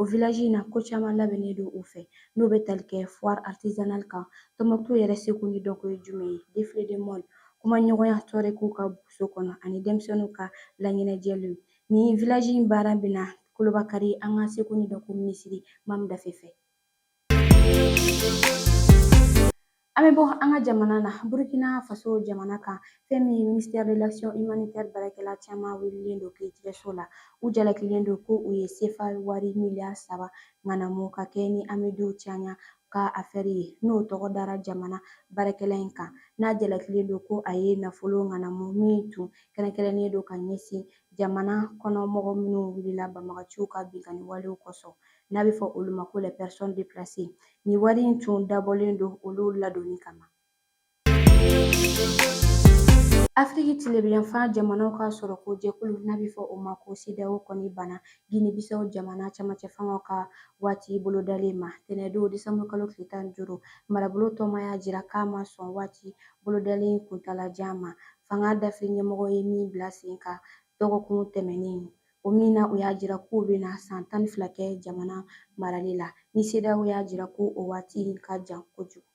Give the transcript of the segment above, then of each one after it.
O village in na ko caman labɛnnen don u fɛ n'o bɛ tali kɛ foire artisanale kan Tɔnbukutu yɛrɛ seko ni dɔnko ye jumɛn ye défilé de mode kumaɲɔgɔnya tuwarɛgiw ka buguso kɔnɔ ani denmisɛnninw ka laɲɛnajɛliw nin village in baara bɛna kurunbakari an ka seko ni dɔnko minisiri Mamu Dafe fɛ An bɛ bɔ an ka jamana na Burukina faso jamana kan fɛn min ye ministère de l'action humanitaire baarakɛla caman welelen don kiiritigɛso la u jalakilen don ko u ye sefa wari miliyari saba ŋanamu ka kɛɲɛ ni Amidu Cɛɲan ka afɛri ye n'o tɔgɔ dara jamana baarakɛla in kan n'a jalakilen don ko a ye nafolo ŋanamu min tun kɛrɛnkɛrɛnnen don ka ɲɛsin jamana kɔnɔ mɔgɔ minnu wulila banbagaciw ka binkanni walew kosɔn n'a bɛ fɔ olu ma ko les personnes déplacées nin wari in tun dabɔlen don olu ladonni kama afiriki tilebinyanfan jamanaw ka sɔrɔko jɛkulu n'a bɛ fɔ o ma ko CEDEAO kɔni banna ginibisaw jamana camancɛ fangaw ka waati bolodalen ma tɛnɛndon desanburukalo tile tan ni duuru marabolo tɔnba y'a jira k'a ma sɔn waati bolodalen kuntalajan ma fanga dafiri ɲɛmɔgɔ ye min bila sen kan dɔgɔkun tɛmɛnen O min na u y'a jira k'u bɛna san tan ni fila kɛ jamana marali la ni CEDEAO y'a jira ko o waati ka jan kojugu.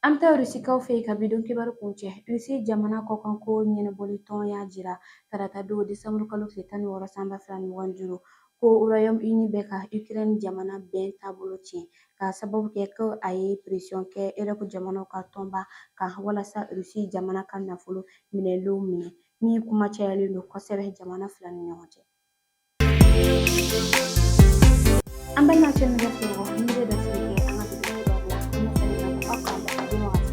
An bɛ taa Rusikaw fɛ yen ka bidon kibaru kuncɛ. Rusi jamana kɔkanko ɲɛnabɔlitɔn y'a jira tarata don desanburukalo tile tan ni wɔɔrɔ san ba fila ni mugan ni duuru ko Royaume Uni bɛ ka Ukraine jamana bɛn taabolo tiɲɛ k'a sababu kɛ ko a ye pression kɛ Europe jamanaw ka tɔnba kan walasa Russie jamana ka nafolo minɛlenw minɛ min kuma cayalen don kosɛbɛ jamana fila ni ɲɔgɔn cɛ. An balima cɛ ni musow, nin bɛ dansigi kɛ an ka bidon kibaru la, an bɛ sɛnɛ na aw k'an bɛn a dun wagati.